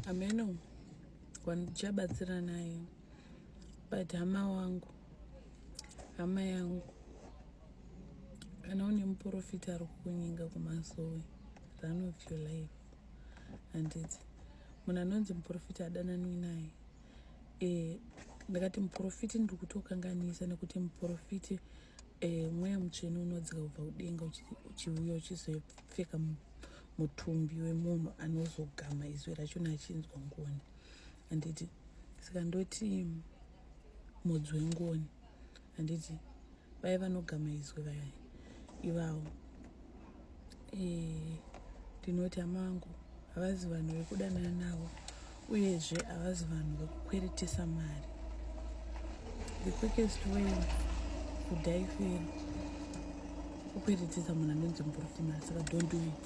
ameno wandichabatsira naye but hama wangu hama yangu kana une muprofita ari kukunyenga kumasowe run of your life handiti munhu anonzi muprofita adananwi naye e, ndakati muprofiti ndiri kutokanganisa nekuti muprofiti e, mweya mutsvene unodzika kubva kudenga uchiuya uchizopfeka munhu mutumbi wemunhu anozogama izwi rachona achinzwa ngoni handiti saka ndoti mudzi wengoni handiti vaye vanogama izwi vaya ivawo eh, ndinoti amangu havazi vanhu vekudanana navo uyezve havazi vanhu vekukweretesa mari the quickest way kudai fero kukweretesa munhu anonzi muprofima saka don't do it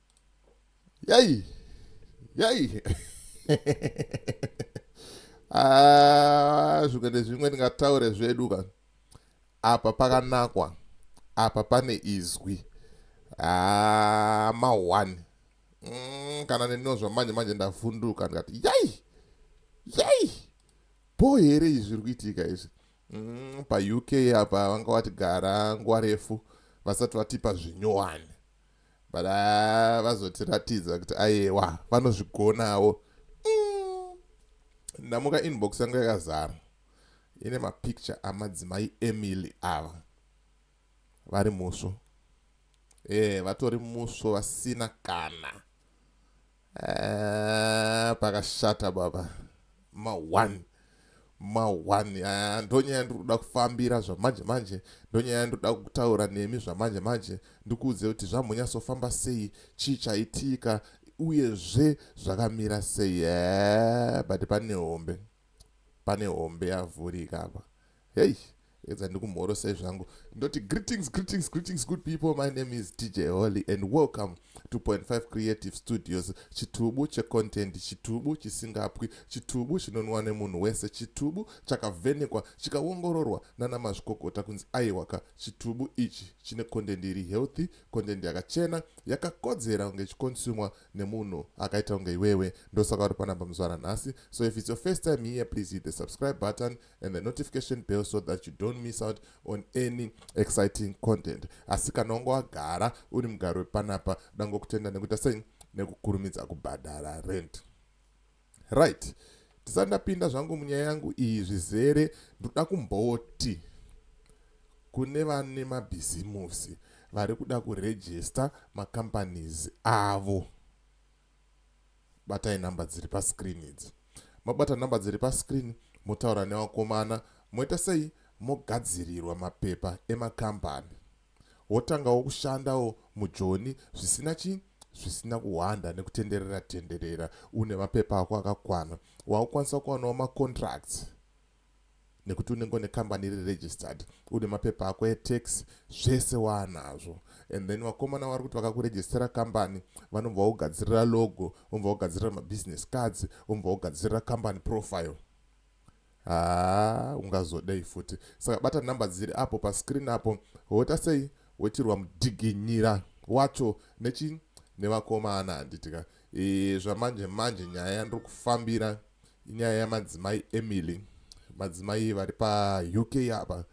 Yai. Yai. Ah, zvikwete zvimwe tingataure zvedu ka apa pakanakwa apa pane izwi ah, mahwani mm, kana nenino zvamanje manje ndavhunduka ndikati yai yai bho here izvi zviri kuitika izvi mm, pauk apa vanga vatigara nguva refu vasati vatipa zvinyowani but ah, vazotiratidza kuti ayewa vanozvigonawo mm. ndamuka inbox yangu yakazara ine mapicture amadzimai emily ava vari musvo ee eh, vatori musvo vasina kana Ah, pakashata baba ma one ma one ah, ndonyaya yandiri kuda kufambira zvamanje manje ndonyaya yandiri kuda kutaura nemi zvamanje manje ndikuudze kuti zvamhonyatsofamba sei chii chaitika uyezve zvakamira sei ee eh, but pane hombe pane hombe yavhurika apa Hey, edza ndikumhorosai zvangu ndoti greetings greetings greetings good people my name is dj holy and welcome to 5 creative studios chitubu checontent chitubu chisingapwi chitubu chinonwa nemunhu wese chitubu chakavhenekwa chikaongororwa nana mazvikokota kunzi aiwaka chitubu ichi chine content iri healthy content yakachena yakakodzera kunge ichikonsumwa nemunhu akaita kunge iwewe ndosaka uri panapa muzvara nhasi so if it's your first time here please hit the subscribe button and the notification bell so that you don't miss out on any exciting content asi kana wanga wagara uri mugari wepanapa dangokutenda nekuita sei nekukurumidza kubhadhara rent right ndisati ndapinda zvangu munyaya yangu iyi zvizere ndoda kumboti kune vane mabhizimusi vari kuda kurejista macompanies avo batai number dziri pascreen idzi mabata number dziri pascreen motaura nevakomana moita sei mogadzirirwa mapepa emakambani wotangawo kushandawo mujoni zvisina chii zvisina kuhwanda nekutenderera tenderera une mapepa ako akakwana wakukwanisa kuwanawo macontracts nekuti unenge une kambani iri registered une mapepa ako etax zvese waanazvo and then vakomana vari kuti vakakurejistera kambani vanobva vogadzirira logo vobva vogadzirira mabusiness cards vobva vogadzirira kambani profile haa ungazodei futi saka bata nhamba dziri apo pascreen apo woita sei woitirwa mudiginyira wacho nechi nevakomana handitika e, zvamanje manje nyaya yandiri kufambira inyaya yamadzimai emily madzimai vari pauk apa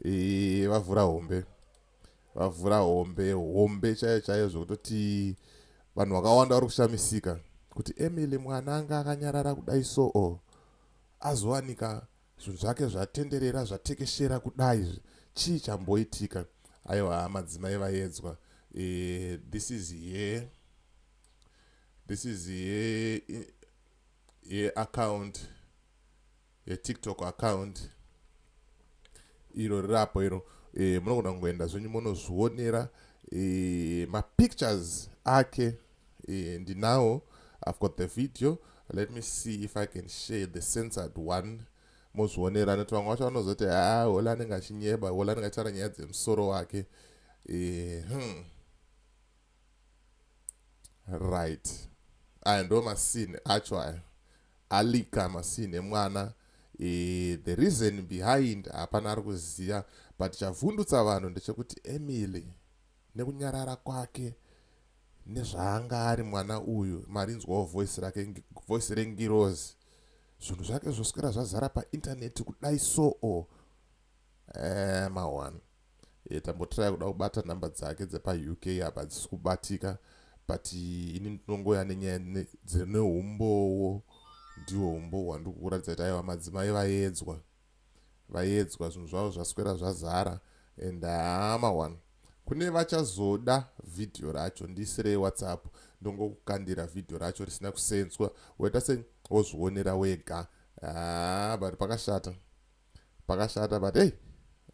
e, vavhura hombe vavhura hombe hombe chaiyo chaiyo zvekutoti vanhu vakawanda vari kushamisika kuti emily mwana anga akanyarara kudai soo azowanika zvinhu zvake zvatenderera zvatekeshera kudai izvi chii chamboitika aiwa madzimai vaedzwa e, this is here this is here ye account yetiktok account iro rirapo iro e, munogona kungoenda zvenyu monozvionera e, mapictures ake eh, ndinawo i've got the video let me see if i can share the censored one mozvionera nekuti vamwe vacho vanozoti haa hola anenge achinyeba hola anenge achitaura nyaya dzemusoro wake eh, hmm. right aya ndo masini acho aya alika masini emwana e, the reason behind hapana ari kuziva but chavhundutsa vanhu ndechekuti emily nekunyarara kwake nezvaanga ari mwana uyu marinzwawo voice rake voice rengirozi zvinhu zvake zvoswera zvazara paintaneti kudai soo eh, mawan e, eh, tambotiraya kuda kubata nhamba dzake dzepauk apa hadzisi kubatika but ini ndinongoya nenyaya dzine umbowo ndiwo umbowo handikukuratidza kuti aiwa madzimai vaedzwa vayedzwa zvinhu zvavo zvaswera zvazara and haa mawan kune vachazoda vhidhiyo racho ndiise rewhatsapp ndongokukandira vhidhiyo racho risina kusenzwa woita se wozvionera wega haa but pakashata pakashata but hey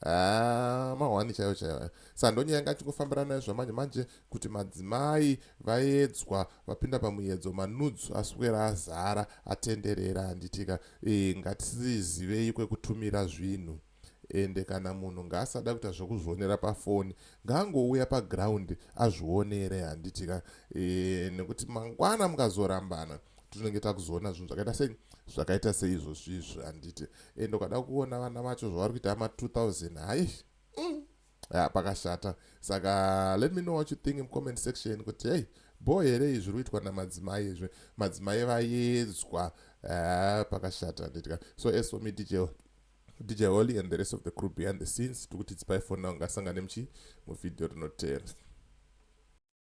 Ah, mahwani chaiyo chaiyo sandonyaya ngachingofambira nayo zvamanje manje kuti madzimai vaedzwa vapinda pamuedzo manudes aswera azara atenderera handitika e, eh, ngatisizivei kwekutumira zvinhu ende kana munhu ngaasada kuita zvekuzvionera pafoni ngaangouya paground azvionere handitika e, eh, nekuti mangwana mukazorambana tinenge takuzoona zvinhu zvakaita sei zvakaita seizvozvizvi handiti ende ukada kuona vana vacho zvavari kuita ma 2000 hayi mm. ya pakashata saka let me know what you think in comment section kuti hey bho here izvi zviri kuitwa namadzimai izvi madzimai vayedzwa eh, pakashata nditika so as for me dj dj holly and the rest of the crew behind the scenes tiri kuti dzipai fona ungasangane muchi muvhidhiyo rinotera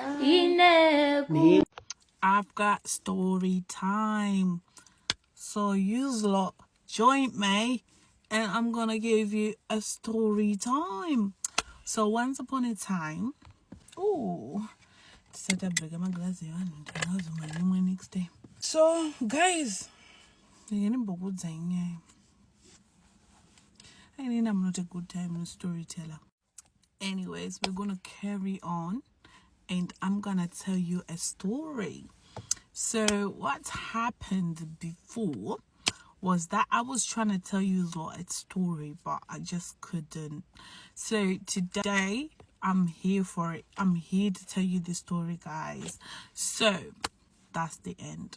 ine I've got story time. So you lot join me and I'm gonna give you a story time. So once upon a time, oh, set up big my glass my next day. So guys, again in Bogotá, I need I'm not a good time storyteller. anyways we're gonna carry on and i'm gonna tell you a story so what happened before was that i was trying to tell you a story but i just couldn't so today i'm here for it i'm here to tell you the story guys so that's the end